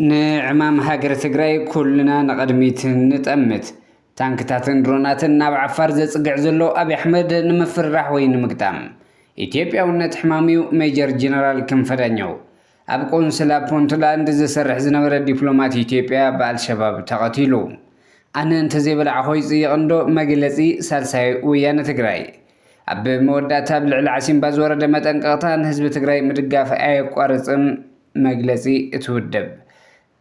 ንዕማም ሃገረ ትግራይ ኩልና ንቕድሚት ንጠምት። ታንክታትን ድሮናትን ናብ ዓፋር ዘጽግዕ ዘሎ ኣብዪ ኣሕመድ ንምፍርራሕ ወይ ንምግጣም ኢትዮጵያውነት ሕማምዩ ሜጀር ጀነራል ክንፈ ዳኘው ኣብ ቆንስላ ፑንትላንድ ዝሰርሕ ዝነበረ ዲፕሎማት ኢትዮጵያ ብኣልሸባብ ተቐቲሉ። ኣነ እንተዘይበላዕኾ ይፅይቕ እንዶ መግለፂ ሳልሳይ ወያነ ትግራይ። ኣብ መወዳእታ ኣብ ልዕሊ ዓሲምባ ዝወረደ መጠንቀቕታ ንህዝቢ ትግራይ ምድጋፍ ኣየቋርፅን መግለፂ እቲ ውድብ።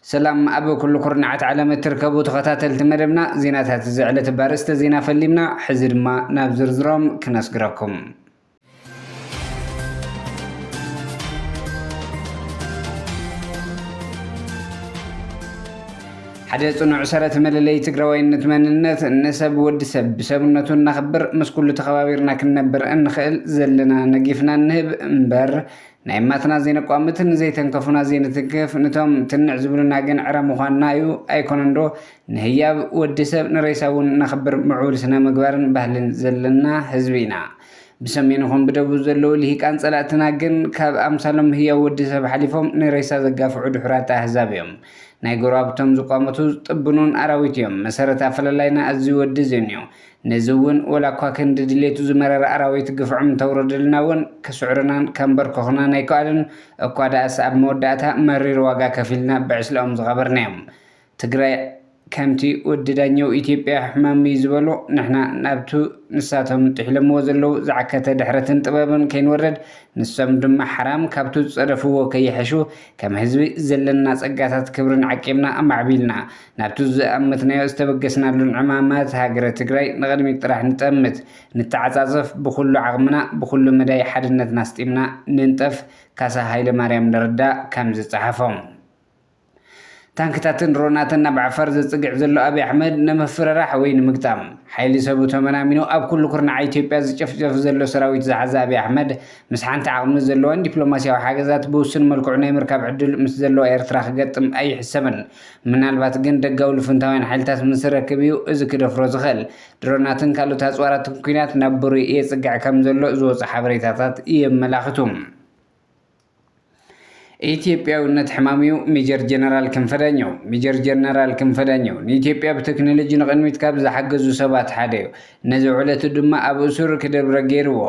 ሰላም ኣብ ኩሉ ኩርናዓት ዓለም እትርከቡ ተኸታተልቲ መደብና ዜናታት እዚ ዕለት ባርእስተ ዜና ፈሊምና ሕዚ ድማ ናብ ዝርዝሮም ክነስግረኩም። ሓደ ጽኑዕ ሰረት መለለይ ትግራዋይነት መንነት ንሰብ ወዲ ሰብ ብሰብነቱ እናኽብር ምስ ኩሉ ተኸባቢርና ክንነብር እንኽእል ዘለና ነጊፍና እንህብ እምበር ናይ ማትና ዘይነቋምት ንዘይተንከፉና ዘይንትንክፍ ንቶም ትንዕ ዝብሉና ግን ዕረ ምዃንና እዩ ኣይኮነን ዶ ንህያብ ወዲ ሰብ ንሬሳ እውን እናኽብር ምዕቡል ስነ ምግባርን ባህልን ዘለና ህዝቢ ኢና ብሰሜን ይኹን ብደቡብ ዘለዉ ልሂቃን ጸላእትና ግን ካብ ኣምሳሎም ህያው ወዲ ሰብ ሓሊፎም ንሬሳ ዘጋፍዑ ድሑራት ኣህዛብ እዮም። ናይ ጎረባብቶም ዝቋመቱ ዝጥብኑን ኣራዊት እዮም። መሰረት ኣፈላላይና እዚ ወዲ እዚን እዩ። ነዚ እውን ወላ እኳ ክንዲ ድሌቱ ዝመረረ ኣራዊት ግፍዖም እንተውረደልና እውን ክስዕሩናን ከንበርክኹናን ኣይከኣሉን እኳ ደኣስ ኣብ መወዳእታ መሪር ዋጋ ከፊልና ብዕስለኦም ዝቐበርናዮም። ትግራይ ከምቲ ወዲ ዳኘው ኢትዮጵያ ሕማም'ዩ ዝበሎ ንሕና ናብቱ ንሳቶም ጥሒሎምዎ ዘለው ዝዓከተ ድሕረትን ጥበብን ከይንወርድ ንሶም ድማ ሓራም ካብቱ ዝፀደፍዎ ከይሕሹ ከም ህዝቢ ዘለና ፀጋታት ክብርን ዓቂብና ኣማዕቢልና ናብቱ ዝኣመትናዮ ዝተበገስናሉን ዕማማት ሃገረ ትግራይ ንቕድሚት ጥራሕ ንጠምት ንተዓፃፀፍ ብኹሉ ዓቕምና ብኹሉ መዳይ ሓድነትና ኣስጢምና ንንጠፍ ካሳ ሃይለማርያም ንርዳእ ከምዝፀሓፎ። ታንክታትን ድሮናትን ናብ ዓፋር ዘጽግዕ ዘሎ ኣብይ ኣሕመድ ንምፍርራሕ ወይ ንምግጣም ሓይሊ ሰቡ ተመናሚኑ ኣብ ኩሉ ኩርናዓት ኢትዮጵያ ዝጨፍጨፍ ዘሎ ሰራዊት ዝሓዘ ኣብይ ኣሕመድ ምስ ሓንቲ ዓቕሚ ዘለዋን ዲፕሎማስያዊ ሓገዛት ብውሱን መልክዑ ናይ ምርካብ ዕድል ምስ ዘለዋ ኤርትራ ክገጥም ኣይሕሰብን። ምናልባት ግን ደጋዊ ልፍንታውያን ሓይልታት ምስ ዝረክብ እዩ እዚ ክደፍሮ ዝኽእል። ድሮናትን ካልኦት ኣጽዋራትን ኲናት ናብ ብሩይ የጽግዕ ከም ዘሎ ዝወጹ ሓበሬታታት የመላኽቱ። ኢትዮጵያዊነት ሕማም'ዩ ሜጀር ጀነራል ክንፈ ዳኘው ሜጀር ጀነራል ክንፈ ዳኘው ንኢትዮጵያ ብቴክኖሎጂ ንቕድሚት ካብ ዝሓገዙ ሰባት ሓደ'ዩ። ነዚ ዕለቱ ድማ ኣብ እሱር ክደብረ ገይርዎ።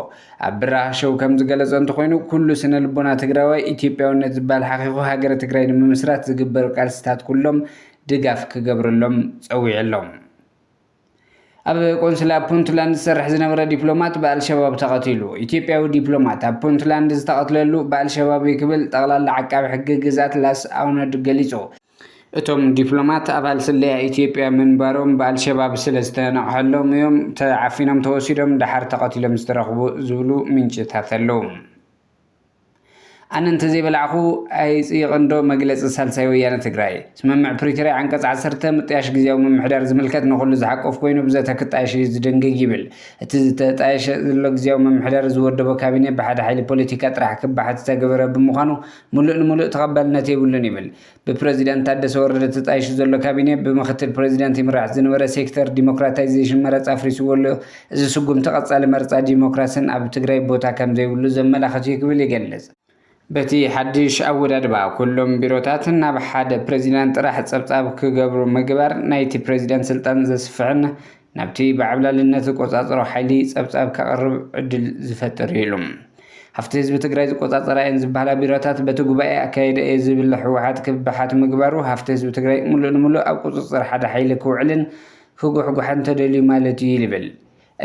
ኣብ ብራኽ ሸው ከምዝገለፆ እንተኾይኑ ኩሉ ስነልቦና ትግራዋይ ኢትዮጵያዊነት ዝብሃል ሓኺኹ ሃገረ ትግራይ ንምምስራት ዝግበሩ ቃልስታት ኩሎም ድጋፍ ክገብረሎም ፀዊዑ'ሎ። ኣብ ቆንስላ ፑንትላንድ ዝሰርሕ ዝነበረ ዲፕሎማት ብኣልሸባብ ተቐቲሉ። ኢትዮጵያዊ ዲፕሎማት ኣብ ፑንትላንድ ዝተቐትለሉ ብኣልሸባብ እዩ ክብል ጠቕላሊ ዓቃቢ ሕጊ ግዝኣት ላስ ኣውነድ ገሊጹ። እቶም ዲፕሎማት ኣባል ስለያ ኢትዮጵያ ምንባሮም ብኣልሸባብ ስለዝተነቕሐሎም እዮም ተዓፊኖም ተወሲዶም ደሓር ተቐቲሎም ዝተረኽቡ ዝብሉ ምንጭታት ኣለው። ኣነ እንተዘይበላዕኹ ኣይፅይቕን ዶ መግለፂ ሳልሳይ ወያነ ትግራይ። ስምምዕ ፕሪቶርያ ዓንቀፅ ዓሰርተ ምጥያሽ ግዝያዊ ምምሕዳር ዝምልከት ንኹሉ ዝሓቁፍ ኮይኑ ብዘተ ክጣየሽ እዩ ዝድንግግ ይብል። እቲ ዝተጣየሸ ዘሎ ግዝያዊ ምምሕዳር ዝወደቦ ካቢኔ ብሓደ ሓይሊ ፖለቲካ ጥራሕ ክባሓት ዝተገበረ ብምዃኑ ሙሉእ ንሙሉእ ተቐባልነት የብሉን ይብል። ብፕረዚደንት ታደሰ ወረደ ተጣይሹ ዘሎ ካቢኔ ብምኽትል ፕረዚደንት ይምራሕ ዝነበረ ሴክተር ዲሞክራታይዜሽን መረፃ ኣፍሪስዎ ኣሎ። እዚ ስጉምቲ ቀፃሊ መረፃ ዲሞክራሲን ኣብ ትግራይ ቦታ ከምዘይብሉ ዘመላኽት እዩ ክብል ይገልፅ። በቲ ሓዱሽ ኣወዳድባ ኩሎም ቢሮታት ናብ ሓደ ፕረዚደንት ጥራሕ ፀብፃብ ክገብሩ ምግባር ናይቲ ፕረዚደንት ስልጣን ዘስፍሕን ናብቲ ብዓብላልነት ዝቆፃፀሮ ሓይሊ ፀብፃብ ከቕርብ ዕድል ዝፈጥር እዩ ኢሉ። ሃፍቲ ህዝቢ ትግራይ ዝቆፃፀራ እየን ዝበሃላ ቢሮታት በቲ ጉባኤ ኣካይደ እየ ዝብል ህወሓት ክበሓት ምግባሩ ሃፍቲ ህዝቢ ትግራይ ሙሉእ ንሙሉእ ኣብ ቁፅፅር ሓደ ሓይሊ ክውዕልን ክጉሕጓሕን ተደልዩ ማለት እዩ ይብል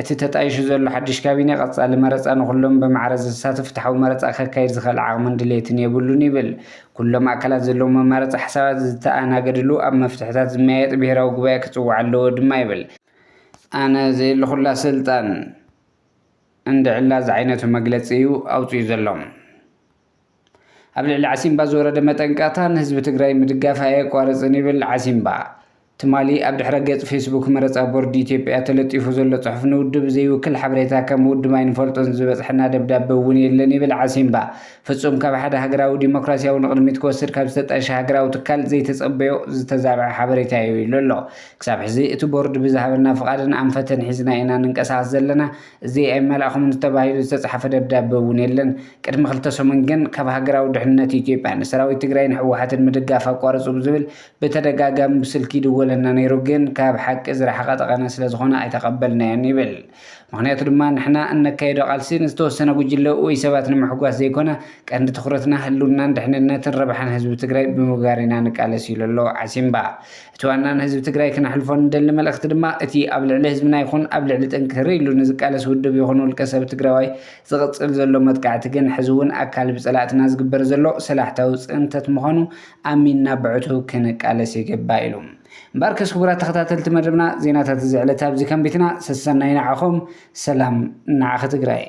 እቲ ተጣይሹ ዘሎ ሓዱሽ ካቢኔ። ቀፃሊ መረፃ ንኹሎም ብማዕረ ዘሳትፍ ፍትሓዊ መረፃ ከካይድ ዝኽእል ዓቕምን ድሌትን የብሉን ይብል ኩሎም ኣካላት ዘለዎም መማረፂ ሓሳባት ዝተኣናገድሉ ኣብ መፍትሕታት ዝመያየጥ ብሄራዊ ጉባኤ ክፅዋዕ ኣለዎ ድማ ይብል። ኣነ ዘየለኹላ ስልጣን እንድዕላ ዝዓይነቱ መግለፂ እዩ ኣውፂኡ ዘሎ። ኣብ ልዕሊ ዓሲምባ ዝወረደ መጠንቀቕታ ንህዝቢ ትግራይ ምድጋፍ ኣየቋርፅን ይብል ዓሲምባ። ትማሊ ኣብ ድሕረ ገፅ ፌስቡክ መረፃ ቦርድ ኢትዮጵያ ተለጢፉ ዘሎ ፅሑፍ ንውድብ ዘይውክል ሓበሬታ ከም ውድብ ኣይንፈልጦን ዝበፅሐና ደብዳበ እውን የለን ይብል ዓሲምባ። ፍፁም ካብ ሓደ ሃገራዊ ዲሞክራሲያዊ ንቕድሚት ክወስድ ካብ ዝተጣየሸ ሃገራዊ ትካል ዘይተፀበዮ ዝተዛብዐ ሓበሬታ እዩ ኢሉ ኣሎ። ክሳብ ሕዚ እቲ ቦርድ ብዝሃበና ፍቓድን ኣንፈትን ሒዝና ኢና ንንቀሳቐስ ዘለና። እዚ ኣይመላእኹምን ተባሂሉ ዝተፅሓፈ ደብዳበ እውን የለን። ቅድሚ ክልተ ሰሙን ግን ካብ ሃገራዊ ድሕንነት ኢትዮጵያ ንሰራዊት ትግራይን ህወሓትን ምድጋፍ ኣቋርፁ ብዝብል ብተደጋጋሚ ብስልኪ ይድወለና ነይሩ፣ ግን ካብ ሓቂ ዝረሓቐ ጠቐነ ስለዝኾነ ኣይተቐበልናዮን ይብል። ምኽንያቱ ድማ ንሕና እነካይዶ ቃልሲ ንዝተወሰነ ጉጅለ ወይ ሰባት ንምሕጓስ ዘይኮነ ቀንዲ ትኹረትና ህልውናን ድሕንነትን ረብሓን ህዝቢ ትግራይ ብምግባር ኢና ንቃለስ ኢሉ ኣሎ ዓሲምባ። እቲ ዋና ንህዝቢ ትግራይ ክነሕልፎ እንደሊ መልእኽቲ ድማ እቲ ኣብ ልዕሊ ህዝብና ይኹን ኣብ ልዕሊ ጥንክር ኢሉ ንዝቃለስ ውድብ ይኹን ውልቀሰብ ትግራዋይ ዝቕፅል ዘሎ መጥቃዕቲ ግን ሕዚ እውን ኣካል ብፀላእትና ዝግበር ዘሎ ሰላሕታዊ ፅንተት ምዃኑ ኣሚንና ብዕቱብ ክንቃለስ ይግባእ ኢሉ። እምበኣርከስ ክቡራት ተኸታተልቲ መደብና ዜናታት እዚ ዕለት ኣብዚ ከንቢትና ሰሰናዩ ንዓኹም ሰላም ንዓኺ ትግራይ።